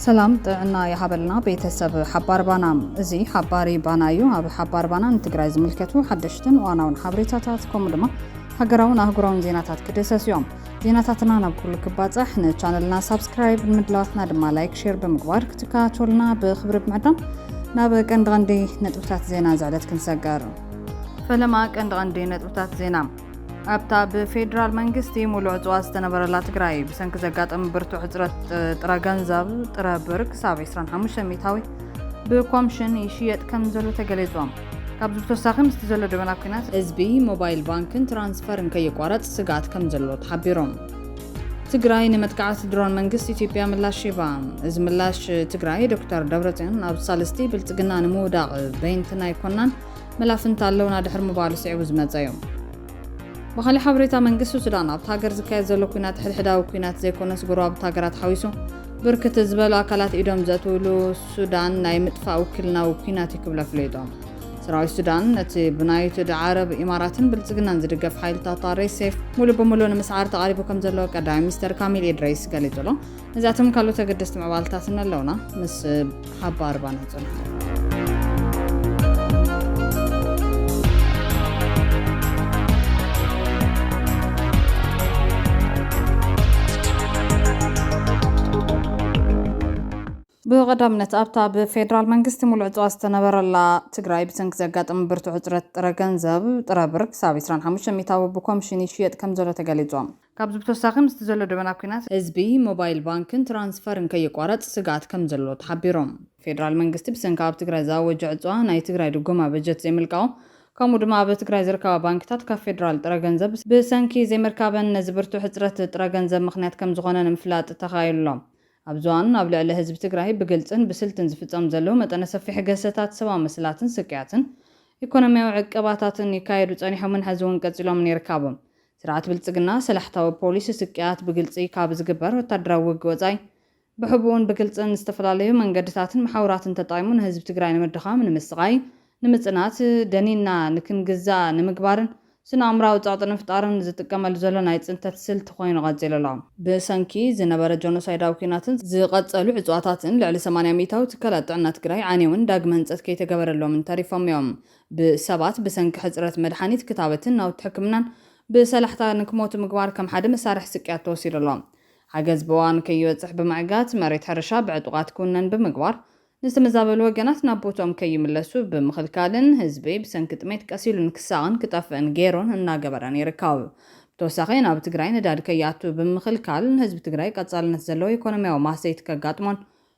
ሰላም ጥዕና ይሃበልና ቤተሰብ ሓባር ባና እዚ ሓባሪ ባና እዩ ኣብ ሓባር ባና ንትግራይ ዝምልከቱ ሓደሽትን ዋናውን ሓበሬታታት ከምኡ ድማ ሃገራውን ኣህጉራውን ዜናታት ክድህሰስ እዮም ዜናታትና ናብ ኩሉ ክባጻሕ ንቻነልና ሳብስክራይብ ንምድላዋትና ድማ ላይክ ሼር ብምግባር ክትከታተሉና ብክብሪ ብምዕዳም ናብ ቀንዲ ቀንዲ ነጥብታት ዜና ዝዕለት ክንሰገር። ፈለማ ቀንዲ ቀንዲ ነጥብታት ዜና ኣብታ ብፌዴራል መንግስቲ ሙሉእ ዕፅዋ ዝተነበረላ ትግራይ ብሰንኪ ዘጋጠመ ብርቱዕ ሕፅረት ጥረ ገንዘብ ጥረ ብር ክሳብ 25 ሚታዊ ብኮምሽን ይሽየጥ ከም ዘሎ ተገሊፁ። ካብዚ ብተወሳኺ ምስቲ ዘሎ ደበና ኲናት ህዝቢ ሞባይል ባንክን ትራንስፈርን ከይቋረፅ ስግኣት ከምዘሎ ተሓቢሩ። ትግራይ ንመጥቃዕቲ ድሮን መንግስቲ ኢትዮጵያ ምላሽ ሂባ። እዚ ምላሽ ትግራይ ዶክተር ደብረፅዮን ኣብ ሳልስቲ ብልፅግና ንምውዳቕ በይንትና ኣይኮናን መላፍንቲ ኣለውና ድሕሪ ምባሉ ስዒቡ ዝመፀ እዩ። ብኻሊእ ሓበሬታ መንግስቲ ሱዳን ኣብቲ ሃገር ዝካየድ ዘሎ ኲናት ሕድሕዳዊ ኲናት ዘይኮነስ ጎረባብቲ ሃገራት ሓዊሱ ብርክት ዝበሉ ኣካላት ኢዶም ዘእትውሉ ሱዳን ናይ ምጥፋእ ውክልናዊ ኩናት እዩ ክብሉ ኣፍሊጦም። ሰራዊት ሱዳን ነቲ ብናይትድ ዓረብ ኢማራትን ብልጽግናን ዝድገፍ ሓይልታት ኣሬሴፍ ሙሉ ብሙሉ ንምስዓር ተቓሪቡ ከም ዘሎ ቀዳማይ ሚኒስተር ካሚል ኢድሪስ ገሊጹ ኣሎ። ነዚኣቶም ካልኦት ኣገደስቲ ምዕባልታትን ኣለውና ምስ ሃባ ኣርባና ጸንሑ። ብቐዳምነት ኣብታ ብፌዴራል መንግስቲ ሙሉእ ዕፅዋ ዝተነበረላ ትግራይ ብሰንኪ ዘጋጠመ ብርቱዕ ሕፅረት ጥረ ገንዘብ፣ ጥረ ብር፣ ክሳብ 25 ሚእታዊ ብኮምሽን ይሽየጥ ከምዘሎ ተገሊፁ። ካብዚ ብተወሳኺ ምስቲ ዘሎ ደበና ኲናት፣ ህዝቢ ሞባይል ባንክን ትራንስፈርን ከይቋረፅ ስግኣት ከምዘሎ ተሓቢሮም። ፌዴራል መንግስቲ ብሰንኪ ኣብ ትግራይ ዝኣወጆ ዕፅዋ ናይ ትግራይ ድጎማ በጀት ዘይምልቃቑ ከምኡ ድማ ኣብ ትግራይ ዝርከባ ባንኪታት ካብ ፌዴራል ጥረ ገንዘብ ብሰንኪ ዘይምርካበን ነዚ ብርቱዕ ሕፅረት ጥረ ገንዘብ ምኽንያት ከምዝኾነ ንምፍላጥ ተኻኢሉ ኣሎ። ኣብዚ እዋን ኣብ ልዕሊ ህዝቢ ትግራይ ብግልፅን ብስልትን ዝፍፀሙ ዘለው መጠነ ሰፊሕ ግህሰታት ሰብኣዊ መሰላትን ስቅያትን ኢኮኖሚያዊ ዕቀባታትን ይካየዱ ፀኒሖምን ሐዚ እውን ቀፂሎምን ይርካቡ። ስርዓት ብልጽግና ሰላሕታዊ ፖሊሲ ስቅያት ብግልጺ ካብ ዝግበር ወታደራዊ ውግእ ወጻኢ ብሕቡእን ብግልጽን ዝተፈላለዩ መንገድታትን መሓውራትን ተጠቒሙ ንህዝቢ ትግራይ ንምድኻም፣ ንምስቓይ፣ ንምጽናት፣ ደኒንና ንክንግዛእ ንምግባርን ስነኣእምራዊ ጸቕጢ ንምፍጣርን ዝጥቀመሉ ዘሎ ናይ ጽንተት ስልቲ ኮይኑ ቀጺሉ ኣሎ። ብሰንኪ ዝነበረ ጆኖሳይዳዊ ኲናትን ዝቐጸሉ ዕጽዋታትን ልዕሊ ሰማንያ ሚኢታዊ ትካላት ጥዕና ትግራይ ዓንየውን ዳግመ ህንጸት ከይተገበረሎምን ተሪፎም እዮም። ብሰባት ብሰንኪ ሕጽረት መድሓኒት፣ ክታበትን ናውቲ ሕክምናን ብሰላሕታ ንክሞቱ ምግባር ከም ሓደ መሳርሒ ስቅያት ተወሲዱ ኣሎ። ሓገዝ ብእዋኑ ከይበጽሕ ብምዕጋት፣ መሬት ሕርሻ ብዕጡቓት ክውነን ብምግባር፣ ንዝተመዛበሉ ወገናት ናብ ቦትኦም ከይምለሱ ብምኽልካልን ህዝቢ ብሰንኪ ጥሜት ቀሲሉ ንክሳቐን ክጠፍእን ገይሩን እናገበረን ይርከብ። ብተወሳኺ ናብ ትግራይ ነዳዲ ከይኣቱ ብምኽልካል ንህዝቢ ትግራይ ቀጻልነት ዘለዎ ኢኮኖሚያዊ ማህሰይቲ ከጋጥሞን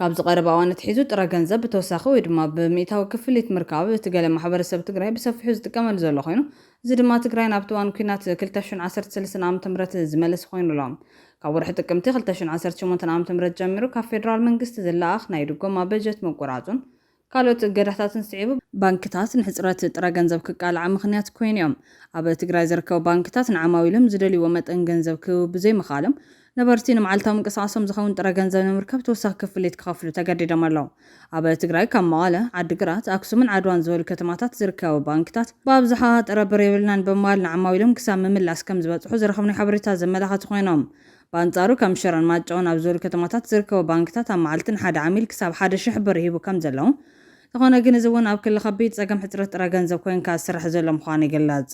ካብዚ ቀረባ እዋን ኣትሒዙ ጥረ ገንዘብ ብተወሳኺ ወይ ድማ ብሚእታዊ ክፍሊት ምርካብ እቲ ገለ ማሕበረሰብ ትግራይ ብሰፊሑ ዝጥቀመሉ ዘሎ ኮይኑ እዚ ድማ ትግራይ ናብቲ እዋን ኩናት ክልተ ሽሕን ዓሰርተ ሰለስተን ዓመተ ምህረት ዝመለሰ ኮይኑ ኣሎ። ካብ ወርሒ ጥቅምቲ ክልተ ሽሕን ዓሰርተ ሸሞንተን ዓመተ ምህረት ጀሚሩ ካብ ፌደራል መንግስቲ ዝለኣኽ ናይ ድጎማ በጀት ምቁራፁን ካልኦት እገዳታትን ስዒቡ፣ ባንክታት ንሕጽረት ጥረ ገንዘብ ክቃልዓ ምኽንያት ኮይኑ'ዮም። ኣብ ትግራይ ዝርከቡ ባንክታት ንዓማዊሎም ዝደልይዎ መጠን ገንዘብ ክህቡ ብዘይምኽኣሎም፣ ነበርቲ ንመዓልታዊ ምንቅስቓሶም ዝኸውን ጥረ ገንዘብ ንምርካብ ተወሳኺ ክፍሊት ክኸፍሉ ተገዲዶም ኣለው። ኣብ ትግራይ ካብ መቐለ፣ ዓዲግራት፣ ኣክሱምን ዓድዋን ዝበሉ ከተማታት ዝርከቡ ባንክታት ብኣብዝሓ ጥረ ብር የብልናን ብምባል ንዓማዊሎም ክሳብ ምምላስ ከምዝበጽሑ ዝረኸብናዮ ሓበሬታ ዘመላኸቱ ኮይኖም፣ ብኣንጻሩ ከም ሽረን ማጨውን ኣብ ዝበሉ ከተማታት ዝርከቡ ባንክታት ኣብ መዓልቲ ንሓደ ዓሚል ክሳብ ሓደ ሽሕ ብር ይህቡ ከም ዘለዉ እንተኾነ ግን እዚ እውን ኣብ ክሊ ከቢድ ጸገም ሕጽረት ጥረ ገንዘብ ኮይንካ ዝስራሕ ዘሎ ምዃኑ ይግለጽ።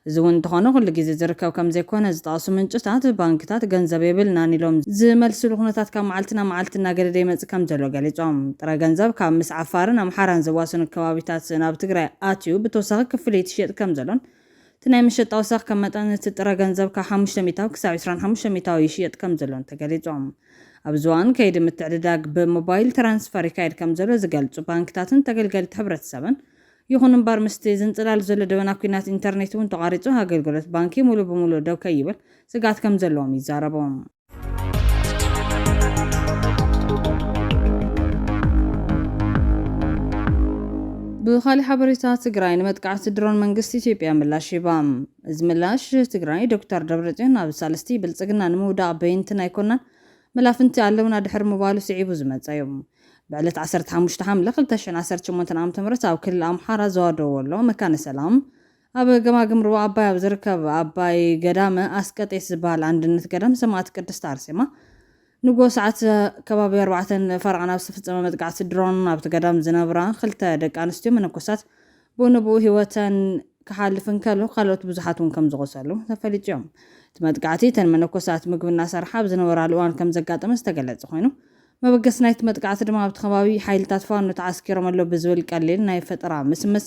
እዚ እውን እንተኾነ ኩሉ ግዜ ዝርከብ ከም ዘይኮነ ዝጠቐሱ ምንጭታት፣ ባንክታት ገንዘብ የብልናን ኢሎም ዝመልስሉ ኩነታት ካብ መዓልቲ ናብ መዓልቲ እናገደደ ይመጽእ ከም ዘሎ ገሊጾም። ጥረ ገንዘብ ካብ ምስ ዓፋርን ኣምሓራን ዘዋስኑ ከባቢታት ናብ ትግራይ ኣትዩ ብተወሳኺ ክፍሊት ይሽየጥ ከም ዘሎን እቲ ናይ መሸጣ ወሰኽ ከም መጠን እቲ ጥረ ገንዘብ ካብ ሓሙሽተ ሚእታዊ ክሳብ ዕስራን ሓሙሽተን ሚእታዊ ይሽየጥ ከም ዘሎን ተገሊጹ። ኣብዚ እዋን ከይዲ ምትዕድዳግ ብሞባይል ትራንስፈር ይካየድ ከም ዘሎ ዝገልጹ ባንክታትን ተገልገልቲ ሕብረተሰብን ይኹን እምበር ምስቲ ዝንጽላል ዘሎ ደበና ኲናት ኢንተርኔት እውን ተቋሪጹ ኣገልግሎት ባንኪ ሙሉእ ብሙሉእ ደው ከይብል ስግኣት ከም ዘለዎም ይዛረቡ። ብኻሊእ ሓበሬታ ትግራይ ንመጥቃዕቲ ድሮን መንግስቲ ኢትዮጵያ ምላሽ ሂባ። እዚ ምላሽ ትግራይ ዶክተር ደብረፅዮን ኣብ ሳልስቲ ብልፅግና ንምውዳቕ በይንትን ኣይኮናን መላፍንቲ ኣለውና ድሕሪ ምባሉ ስዒቡ ዝመፀ እዩ። ብዕለት ዓሰርተ ሓሙሽተ ሓምለ ክልተ ሽሕን ዓሰርተ ሸሞንተን ዓመተ ምህረት ኣብ ክልል ኣምሓራ ዞባ ደወሎ መካነ ሰላም ኣብ ገማግም ሩባ ኣባይ ኣብ ዝርከብ ኣባይ ገዳመ ኣስቀጤስ ዝበሃል ኣንድነት ገዳም ሰማእት ቅድስት ኣርሴማ ንግሆ ሰዓት ከባቢ ኣርባዕተ ፈረቓ ናብ ዝተፈጸመ መጥቃዕቲ ድሮን ኣብቲ ገዳም ዝነብራ ክልተ ደቂ ኣንስትዮ መነኮሳት ብኡ ንብኡ ህይወተን ክሓልፍ እንከሎ ካልኦት ብዙሓት እውን ከም ዝቖሰሉ ተፈሊጡ እዮም። እቲ መጥቃዕቲ እተን መነኮሳት ምግቢ እናሰርሓ ኣብ ዝነበራሉ እዋን ከም ዘጋጠመ ዝተገለጸ ኮይኑ መበገሲ ናይቲ መጥቃዕቲ ድማ ኣብቲ ከባቢ ሓይልታት ፋኖ ተዓስኪሮም ኣለዉ ብዝብል ቀሊል ናይ ፈጠራ ምስምስ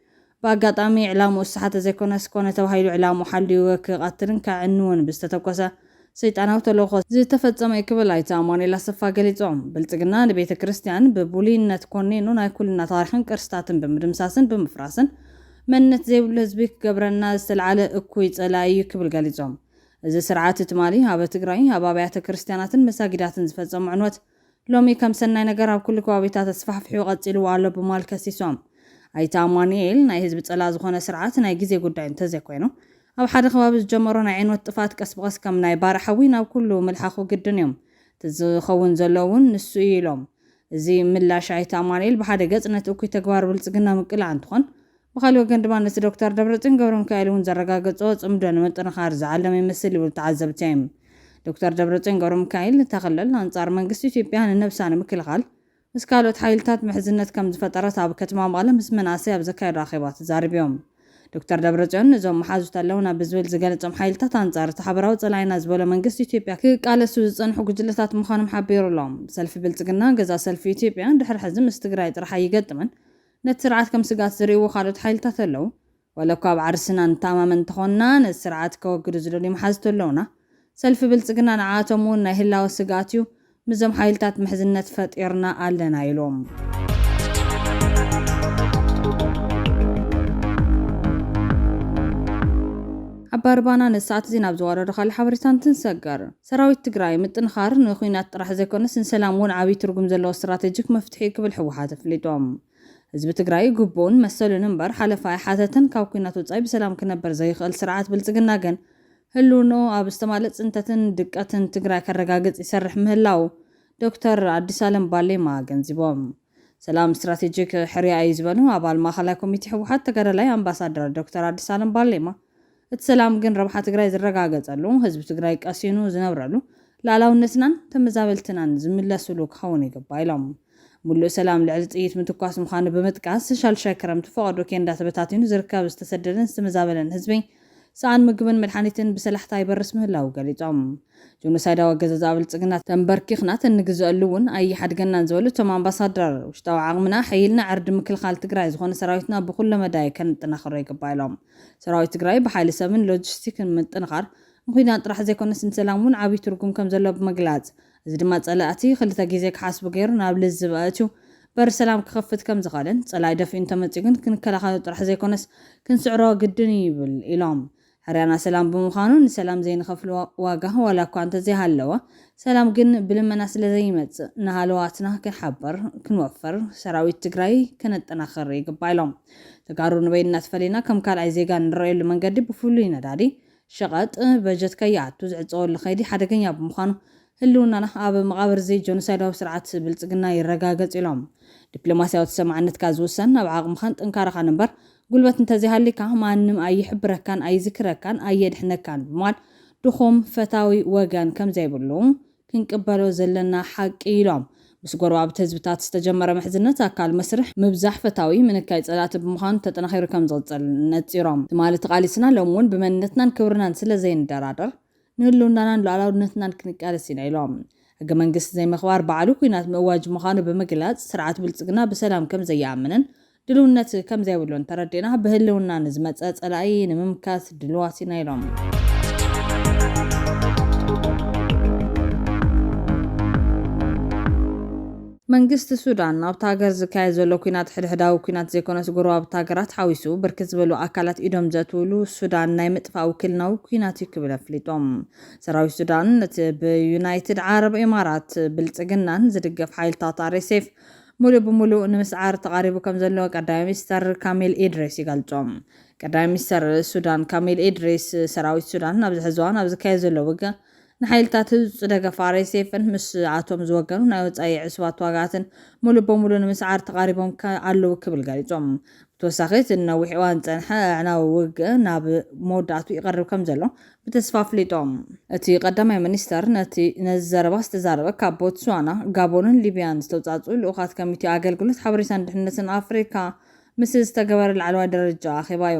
ብኣጋጣሚ ዕላምኡ ዝተሓተ ዘይኮነስ፣ ኮነ ተባሂሉ ዕላምኡ ሓልዩ ክቐትልን ከዕንውን ብዝተተኮሰ ሰይጣናዊ ተልእኾ ዝተፈጸመ እዩ ክብል ኣይተ ኣማኑኤል ኣሰፋ ገሊጾም። ብልጽግና ንቤተ ክርስቲያን ብቡልይነት ኮኒኑ ናይ ኩልና ታሪኽን ቅርስታትን ብምድምሳስን ብምፍራስን መንነት ዘይብሉ ህዝቢ ክገብረና ዝተልዓለ እኩይ ጸላኢ እዩ ክብል ገሊጾም። እዚ ስርዓት ትማሊ ኣብ ትግራይ ኣብ ኣብያተ ክርስቲያናትን መሳጊዳትን ዝፈጸሞ ዕንወት ሎሚ ከም ሰናይ ነገር ኣብ ኩሉ ከባቢታት ተስፋሕፊሑ ቀጺልዎ ኣሎ ብማል ከሲሶም። ኣይተ ኣማኑኤል፣ ናይ ህዝቢ ጸላእ ዝኾነ ስርዓት ናይ ግዜ ጉዳይ እንተዘይኮይኑ፣ ኣብ ሓደ ከባቢ ዝጀመሮ ናይ ዕንወት ጥፍኣት ቀስ ብቐስ ከም ናይ ባርዕ ሓዊ ናብ ኩሉ ምልሓኹ ግድን እዮም። እቲ ዝኸውን ዘሎ እውን ንሱ እዩ ኢሎም። እዚ ምላሽ ኣይተ ኣማኑኤል ብሓደ ገጽ ነቲ እኩይ ተግባር ብልጽግና ምቅላዕ እንትኾን፣ ብኻሊእ ወገን ድማ ነቲ ዶክተር ደብረፅዮን ገብረሚካኤል እውን ዘረጋገፆ ፅምዶ ንምጥንኻር ዝዓለመ ይመስል ይብሉ ተዓዘብቲ። ዶክተር ደብረፅዮን ገብረሚካኤል፣ እታ ክልል ኣንፃር መንግስቲ ኢትዮጵያ ንነብሳ ንምክልኻል ምስ ካልኦት ሓይልታት ምሕዝነት ከምዝፈጠረት ኣብ ከተማ መቐለ ምስ መናእሰይ ኣብ ዘካየዶ ኣኼባ ተዛሪቢም። ዶክተር ደብረፅዮን ንዞም መሓዙት ኣለውና ብዝብል ዝገለፆም ሓይልታት ኣንፃር እቲ ሓበራዊ ፀላኢና ዝበሎ መንግስቲ ኢትዮጵያ ክቃለሱ ዝፀንሑ ጉጅለታት ምዃኖም ሓቢሩ'ሎ። ሰልፊ ብልፅግና ገዛ ሰልፊ ኢትዮጵያ ድሕሪ ሕዚ ምስ ትግራይ ጥራሕ ኣይገጥምን ነቲ ስርዓት ከም ስግኣት ዝርእይዎ ካልኦት ሓይልታት ኣለዉ። ዋላኳ ኣብ ዓርስና ንተኣማመን እንተኾንና፣ ነዚ ስርዓት ከወግዱ ዝደልዩ መሓዝት ኣለዉና። ሰልፊ ብልጽግና ንዓኣቶም እውን ናይ ህላወ ስግኣት እዩ። ምስዞም ሓይልታት ምሕዝነት ፈጢርና ኣለና ኢሉ። ኣባ ርባና ነዚ ሰዓት'ዚ ናብ ዝዋረዶ ካልእ ሓበሬታ እንትንሰገር፣ ሰራዊት ትግራይ ምጥንኻር ንኩናት ጥራሕ ዘይኮነስ ንሰላም እውን ዓብይ ትርጉም ዘለዎ ስትራቴጂክ መፍትሒ እዩ ክብል ህወሓት ኣፍሊጡ። ህዝቢ ትግራይ ግቡኡን መሰሉን እምበር ሓለፋ ኣይሓተተን፣ ካብ ኩናት ወፃኢ ብሰላም ክነበር ዘይኽእል ስርዓት ብልፅግና ግን ህልውንኡ ኣብ ዝተማልእ ፅንተትን ድቀትን ትግራይ ከረጋግፅ ይሰርሕ ምህላው ዶክተር ኣዲሳለም ባሌማ ኣገንዚቦም። ሰላም ስትራቴጂክ ሕርያ እዩ ዝበሉ ኣባል ማእኸላይ ኮሚቴ ህወሓት ተጋዳላይ ኣምባሳደር ዶክተር ኣዲሳለም ባሌማ እቲ ሰላም ግን ረብሓ ትግራይ ዝረጋገፀሉ፣ ህዝቢ ትግራይ ቀሲኑ ዝነብረሉ፣ ልኣላውነትናን ተመዛበልትናን ዝምለስሉ ክኸውን ይግባእ ኢሎም። ሙሉእ ሰላም ልዕሊ ጥይት ምትኳስ ምዃኑ ብምጥቃስ፣ ሻልሻይ ክረምቲ ፈቐዶ ኬንዳ ተበታቲኑ ዝርከብ ዝተሰደደን ዝተመዛበለን ህዝቢ ሰኣን ምግብን መድሓኒትን ብሰላሕታ ይበርስ ምህላዉ ገሊፆም። ጆኖሳይዳዊ ኣገዛዝኣ ብልፅግና ተምበርኪኽና ተንግዘኣሉ እውን ኣይሓድገናን ዝበሉ እቶም ኣምባሳደር፣ ውሽጣዊ ዓቕምና ኣሐይልና ዕርዲ ምክልኻል ትግራይ ዝኾነ ሰራዊትና ብኹለመዳይ ከነጠናኽሮ ይግባእ ኢሎም። ሰራዊት ትግራይ ብሓይሊ ሰብን ሎጂስቲክን ምጥንኻር ንኲናት ጥራሕ ዘይኮነስ ንሰላም እውን ዓብዪ ትርጉም ከምዘለዎ ብምግላፅ፣ እዚ ድማ ፀላእቲ ክልተ ግዜ ክሓስቡ ገይሩ ናብ ልዝብ ኣእትዩ በሪ ሰላም ክኸፍት ከምዝኸኣለን ፀላኢ ደፊኡ እንተመፅዩ ግን ክንከላኸሎ ጥራሕ ዘይኮነስ ክንስዕሮ ግድን እዩ ይብል ኢሎም። ሕርያና ሰላም ብምዃኑ ንሰላም ዘይንኸፍሎ ዋጋ ዋላ እኳ እንተዘይሃለወ ሰላም ግን ብልመና ስለዘይመፅእ ንሃለዋትና ክንሓብር፣ ክንወፍር፣ ሰራዊት ትግራይ ከነጠናኽር ይግባእ ኢሎም። ተጋሩ ንበይንና ተፈሊና ከም ካልኣይ ዜጋ እንረኣየሉ መንገዲ ብፍሉይ ነዳዲ፣ ሸቐጥ፣ በጀት ከይኣቱ ዝዕፀወሉ ከይዲ ሓደገኛ ብምዃኑ ህልውናና ኣብ መቓብር እዚ ጆኖሳይዳዊ ስርዓት ብልፅግና ይረጋገፅ ኢሎም። ዲፕሎማሲያዊ ተሰማዕነትካ ዝውሰን ኣብ ዓቕምኻን ጥንካረኻን እምበር ጉልበት እንተዘይሃልይካ ማንም ኣይሕብረካን ኣይዝክረካን ኣየድሕነካን ብምባል ድኹም ፈታዊ ወገን ከምዘይብሉ ክንቅበሎ ዘለና ሓቂ እዩ ኢሎም። ምስ ጎረባብቲ ህዝብታት ዝተጀመረ ምሕዝነት ኣካል መስርሕ ምብዛሕ ፈታዊ ምንካይ ፀላእቲ ብምዃኑ ተጠናኺሩ ከምዝቕፅል ነፂሮም። ትማሊ ተቓሊስና ሎሚ እውን ብመንነትናን ክብርናን ስለዘይንደራደር ንህልውናናን ሉኣላውነትናን ክንቃለስ ኢና ኢሎም። ሕገ መንግስቲ ዘይምኽባር ባዕሉ ኲናት ምእዋጅ ምዃኑ ብምግላፅ፣ ስርዓት ብልፅግና ብሰላም ከምዘይኣምንን ድልውነት ከምዘይብሉ እንተረዲእና ብህልውና ንዝመፀ ፀላኢ ንምምካት ድልዋት ኢና ኢሎም። መንግስቲ ሱዳን ኣብታ ሃገር ዝካየድ ዘሎ ኲናት ሕድሕዳዊ ኲናት ዘይኮነስ ጎረባብቲ ሃገራት ሓዊሱ ብርክት ዝበሉ ኣካላት ኢዶም ዘእትውሉ ሱዳን ናይ ምጥፋእ ውክልናዊ ኲናት እዩ ክብል ኣፍሊጦም። ሰራዊት ሱዳን እቲ ብዩናይትድ ዓረብ ኤማራት፣ ብልፅግናን፣ ዝድገፍ ሓይልታት RSF፣ ሙሉእ ብሙሉእ ንምስዓር ተቓሪቡ ከምዘሎ ቀዳማይ ሚኒስተር ካሚል ኢድሪስ ይገልጹ። ቀዳማይ ሚኒስተር ሱዳን ካሚል ኢድሪስ፣ ሰራዊት ሱዳን ኣብዚ ሕዚ እዋን ኣብ ዝካየድ ዘሎ ውግእ ንሓይልታት ህጹጽ ደገፍ ኣርኤስኤፍን ምስኣቶም ዝወገኑ ናይ ወጻኢ ዕሱባት ተዋጋእትን ሙሉእ ብሙሉእ ንምስዓር ተቓሪቦም ኣለዉ ክብል ገሊጹ። ብተወሳኺ እቲ ንነዊሕ እዋን ዝጸንሐ ኣዕናዊ ውግእ ናብ መወዳእትኡ ይቐርብ ከምዘሎ ብተስፋ ኣፍሊጦም። እቲ ቀዳማይ ሚኒስተር ነቲ ነዚ ዘረባ ዝተዛረበ ካብ ቦትስዋና፣ ጋቦንን ሊብያን ዝተውጻእጽኡ ልኡኻት ኮሚቴ ኣገልግሎት ሓበሬታን ድሕንነትን ኣፍሪካ ምስ ዝተገበረ ላዕለዋይ ደረጃ ኣኼባ'ዩ።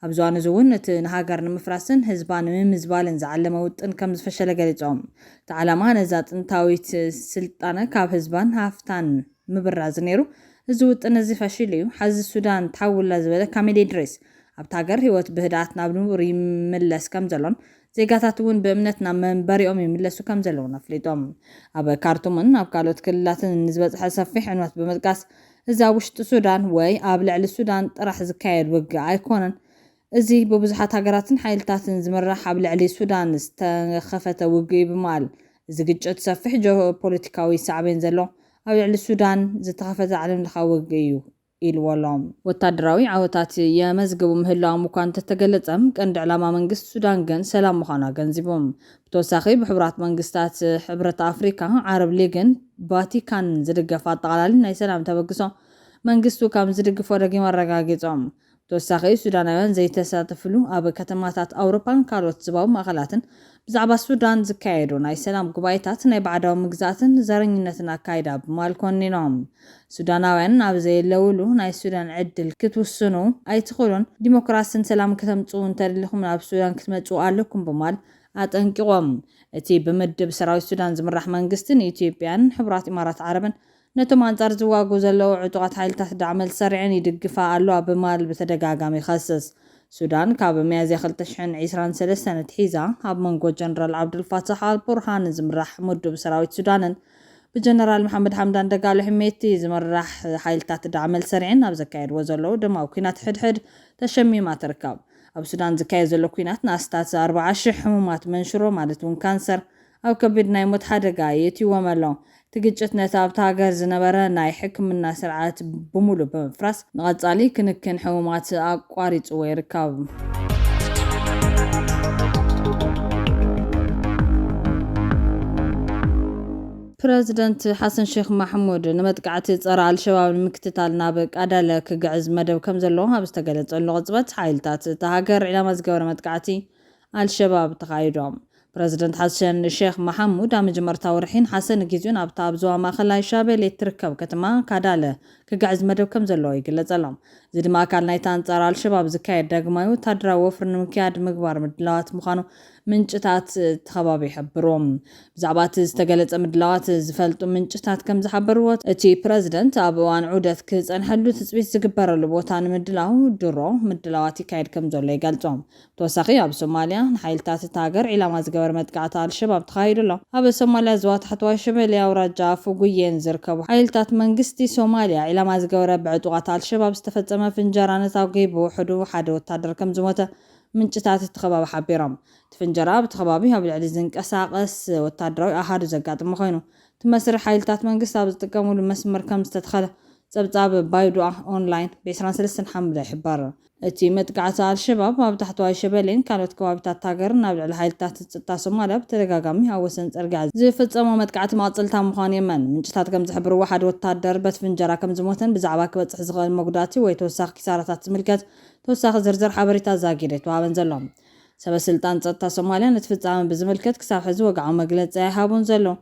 ኣብዚ እዋን'ዚ'ውን እቲ ንሃገር ንምፍራስን ህዝባ ንምምዝባልን ዝዓለመ ውጥን ከምዝፈሸለ ገሊጾም። እቲ ዓላማ ነዛ ጥንታዊት ስልጣነ ካብ ህዝባን ሃፍታን ምብራዝ ነይሩ። እዚ ውጥን'ዚ ፈሺሉ'ዩ። ሓዚ ሱዳን ትሓውላ ዝበለ ካሚል ኢድሪስ፣ ኣብታ ሃገር ህይወት ብህድኣት ናብ ንቡር ይምለስ ከምዘሎን ዜጋታት እውን ብእምነት ናብ መንበሪኦም ይምለሱ ከምዘለዉን ኣፍሊጦም። ኣብ ካርቱምን ኣብ ካልኦት ክልላትን ንዝበፅሐ ሰፊሕ ዕንወት ብምጥቃስ፣ እዚ ኣብ ውሽጢ ሱዳን ወይ ኣብ ልዕሊ ሱዳን ጥራሕ ዝካየድ ውግእ ኣይኮነን፣ እዚ ብብዙሓት ሃገራትን ሓይልታትን ዝምራሕ ኣብ ልዕሊ ሱዳን ዝተኸፈተ ውግእ'ዩ ብምባል፣ እዚ ግጭት ሰፊሕ ጂኦፖለቲካዊ ሳዕቤን ዘለዎ ኣብ ልዕሊ ሱዳን ዝተኸፈተ ዓለምለኻዊ ውግእ'ዩ ኢልዎ'ሎ። ወታደራዊ ዓወታት የመዝግቡ ምህላዎም እኳ እንተተገለጸ፣ ቀንዲ ዕላማ መንግስቲ ሱዳን ግን ሰላም ምዃኑ ኣገንዚቡ። ብተወሳኺ ብሕቡራት መንግስታት፣ ሕብረት ኣፍሪካ፣ ዓረብ ሊግን ቫቲካንን ዝድገፍ ኣጠቓላሊ ናይ ሰላም ተበግሶ መንግስቱ ከምዝድግፎ ደጊሙ ኣረጋጊጹ። ብተወሳኺ ሱዳናውያን ዘይተሳተፍሉ ኣብ ከተማታት ኣውሮፓን ካልኦት ዝባዊ ማእኸላትን ብዛዕባ ሱዳን ዝካየዱ ናይ ሰላም ጉባኤታት ናይ ባዕዳዊ ምግዛእትን ዘረኝነትን ኣካይዳ ብማል ኮኒኖም። ሱዳናውያን ኣብ ዘየለውሉ ናይ ሱዳን ዕድል ክትውስኑ ኣይትኽእሉን፣ ዲሞክራስን ሰላምን ክተምፅኡ እንተደሊኹም ናብ ሱዳን ክትመፅኡ ኣለኩም ብማል ኣጠንቂቖም። እቲ ብምድብ ሰራዊት ሱዳን ዝምራሕ መንግስቲ ንኢትዮጵያን ሕቡራት ኢማራት ዓረብን ነቶም ኣንጻር ዝዋግኡ ዘለዉ ዕጡቓት ሓይልታት ዳዕመል ሰሪዐን ይድግፋ ኣለዋ ብማል ብተደጋጋሚ ይኸስስ። ሱዳን ካብ ሚያዝያ ክልተ ሽሕን ዒስራን ሰለስተን ኣትሒዛ ኣብ መንጎ ጀነራል ዓብዱልፋታሕ ኣልቡርሃን ዝምራሕ ምዱብ ሰራዊት ሱዳንን ብጀነራል መሓመድ ሓምዳን ደጋሎ ሕሜቲ ዝምራሕ ሓይልታት ዳዕመል ሰሪዐን ኣብ ዘካየድዎ ዘለዉ ደማዊ ኲናት ሕድሕድ ተሸሚማ ትርከብ። ኣብ ሱዳን ዝካየድ ዘሎ ኲናት ንኣስታት ኣርብዓ ሽሕ ሕሙማት መንሽሮ ማለት እውን ካንሰር ኣብ ከቢድ ናይ ሞት ሓደጋ የእትይዎም ኣሎ። እቲ ግጭት ነቲ ኣብታ ሃገር ዝነበረ ናይ ሕክምና ስርዓት ብምሉእ ብምፍራስ፣ ንቐጻሊ ክንክን ሕሙማት ኣቋሪጽዎ ይርከብ። ፕረዚደንት ሓሰን ሼኽ ማሕሙድ፣ ንመጥቃዕቲ ጸረ ኣልሸባብ ንምክትታል ናብ ቃዳለ ክግዕዝ መደብ ከምዘለዎ ኣብ ዝተገለጸሉ ቅጽበት፣ ሓይልታት እታ ሃገር ዒላማ ዝገበረ መጥቃዕቲ ኣልሸባብ ተኻይዶም። ፕረዚደንት ሓሰን ሼኽ መሓሙድ ኣብ መጀመርታ ወርሒ ነሓሰ ንጊዚኡ ናብታ ኣብ ዞባ ማእከላይ ሻቤሌ እትርከብ ከተማ ካዳለ ክግዕዝ መደብ ከም ዘለዎ ይግለጸሎም። እዚ ድማ ኣካል ናይቲ ኣንጻር ኣልሸባብ ዝካየድ ዳግማይ ወተሃደራዊ ወፍሪ ንምክያድ ምግባር ምድላዋት ምዃኑ ምንጭታት እቲ ከባቢ ይሕብሩ። ብዛዕባ እቲ ዝተገለጸ ምድላዋት ዝፈልጡ ምንጭታት ከም ዝሓበርዎ፣ እቲ ፕረዚደንት ኣብ እዋን ዑደት ክጸንሐሉ ትጽቢት ዝግበረሉ ቦታ ንምድላው ድሮ ምድላዋት ይካየድ ከም ዘሎ ይገልጹ። ብተወሳኺ ኣብ ሶማሊያ ንሓይልታት እታ ሃገር ዒላማ ዝገበረ መጥቃዕቲ ኣልሸባብ ተኻይዱ ኣሎ። ኣብ ሶማሊያ ዞባ ታሕተዋይ ሸበሌ ኣውራጃ ኣፉጉዬን ዝርከቡ ሓይልታት መንግስቲ ሶማሊያ ዒላማ ዝገበረ ብዕጡቓት ኣልሸባብ ዝተፈጸመ ፍንጀራ ነታጒ ብውሕዱ ሓደ ወታደር ከምዝሞተ ምንጭታት እቲ ከባቢ ሓቢሮም። እቲ ፍንጀራ ኣብቲ ከባቢ ኣብ ልዕሊ ዝንቀሳቐስ ወታደራዊ ኣሃዱ ዘጋጥመ ኮይኑ እቲ መስርሕ ሓይልታት መንግስቲ ኣብ ዝጥቀሙሉ መስመር ከምዝተተኸለ ጸብጻብ ባይዶኣ ኦንላይን ብ ዕስራን ሰለስተን ሓምለ ይሕበር። እቲ መጥቃዕቲ ኣልሸባብ ኣብ ታሕተዋይ ሸበሌን ካልኦት ከባቢታት ሃገርን ኣብ ልዕሊ ሓይልታት ጸጥታ ሶማልያ ብተደጋጋሚ ኣብ ወሰን ጽርግያ ዝፍጸሞ መጥቃዕቲ መቐጸልታ ምዃኑ የመን። ምንጭታት ከም ዝሕብርዎ ሓደ ወተሃደር በት ፍንጀራ ከም ዝሞተን ብዛዕባ ክበጽሕ ዝኽእል መጉዳእቲ ወይ ተወሳኺ ኪሳራታት ዝምልከት ተወሳኺ ዝርዝር ሓበሬታ ዛጊድ ኣይተዋህበን ዘሎ። ሰበስልጣን ጸጥታ ሶማልያ ነቲ ፍጻመ ብዝምልከት ክሳብ ሕዚ ወግዓዊ መግለጺ ኣይሃቡን ዘለዉ።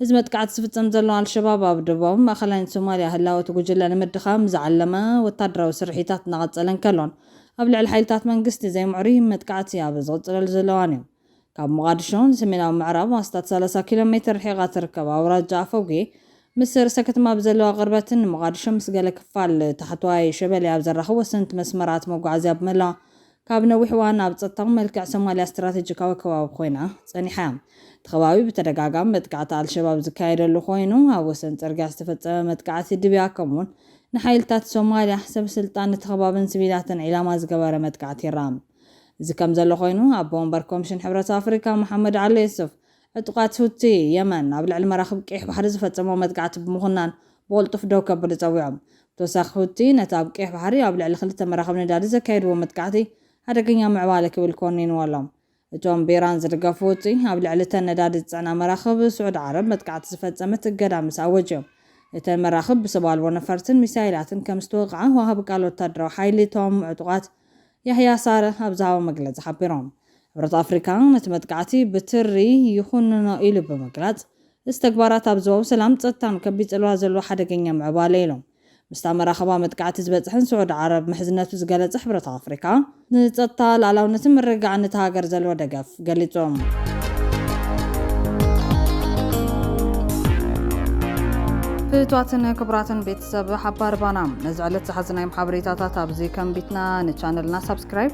እዚ መጥቃዕቲ ዝፍጽም ዘሎ ኣልሸባብ ኣብ ደቡባውን ማእኸላይን ሶማልያ ህላወ እቲ ጉጅለ ንምድኻም ዝዓለመ ወታደራዊ ስርሒታት እናቐፀለ እንከሎን ኣብ ልዕሊ ሓይልታት መንግስቲ ዘይምዕሩይ መጥቃዕቲ ኣብ ዝቕፅለሉ ዘሎ እዋን እዩ። ካብ ሞቓድሾ ንሰሜናዊ ምዕራብ ኣስታት ሰላሳ ኪሎ ሜትር ርሒቓ ትርከብ ኣውራጃ ኣፎጌ ምስ ርእሰ ከተማ ብዘለዋ ቅርበትን ንሞቓድሾ ምስ ገለ ክፋል ታሕተዋይ ሸበሌ ኣብ ዘራኽብ ወሰንቲ መስመራት መጓዓዝያ ብምህላዋ ካብ ነዊሕ እዋን ኣብ ጸጥታዊ መልክዕ ሶማልያ ስትራተጂካዊ ከባቢ ኮይና ጸኒሓ እያ። እቲ ከባቢ ብተደጋጋሚ መጥቃዕቲ ኣልሸባብ ዝካየደሉ ኮይኑ፣ ኣብ ወሰን ጽርግያ ዝተፈጸመ መጥቃዕቲ ድብያ ከምኡ'ውን ንሓይልታት ሶማልያ፣ ሰበስልጣን እቲ ከባብን ሲቪላትን ዒላማ ዝገበረ መጥቃዕቲ ይርኣ። እዚ ከምዘሎ ኮይኑ፣ ኣቦ ወንበር ኮምሽን ሕብረት ኣፍሪካ መሓመድ ዓሊ ዩሱፍ ዕጡቓት ሁቲ የመን ኣብ ልዕሊ መራኽብ ቀይሕ ባሕሪ ዝፈጸምዎ መጥቃዕቲ ብምኹናን ብቕልጡፍ ደው ከብሉ ጸዊዖም። ብተወሳኺ ሁቲ ነቲ ኣብ ቀይሕ ባሕሪ ኣብ ልዕሊ ክልተ መራኽብ ነዳዲ ዘካየድዎ መጥቃዕቲ ሓደገኛ ምዕባለ ክብል ኮኒንዎ ኣሎ። እቶም ብኢራን ዝድገፉ ሁቲ ኣብ ልዕሊ እተን ነዳዲ ዝጽዕና መራኽብ ስዑድ ዓረብ መጥቃዕቲ ዝፈጸመት እገዳ ምስ ኣወጁ'ዮም እተን መራኽብ ብሰብ ኣልቦ ነፈርትን ሚሳይላትን ከም ዝተወቕዓ ወሃቢ ቃል ወታደራዊ ሓይሊ እቶም ዕጡቓት ያህያ ሳረህ ኣብ ዝሃቦ መግለጺ ሓቢሮም። ሕብረት ኣፍሪካ ነቲ መጥቃዕቲ ብትሪ ይኹንኖ ኢሉ ብምግላፅ እዚ ተግባራት ኣብ ዞባዊ ሰላም ፀጥታን ከቢድ ፅልዋ ዘለዎ ሓደገኛ ምዕባለ ኢሎም። ምስታ መራኽባ መጥቃዕቲ ዝበፅሐን ስዑዲ ዓረብ ምሕዝነቱ ዝገለፀ ሕብረት ኣፍሪካ ንፀጥታ፣ ልኣላውነትን ምርግጋዕን እታ ሃገር ዘለዎ ደገፍ ገሊፁ። ፍትዋትን ክቡራትን ቤተሰብ ሓባር ባና ነዚ ዕለት ዝሓዝናዮም ሓበሬታታት ኣብዚ ከንቢትና ንቻነልና ሳብስክራይብ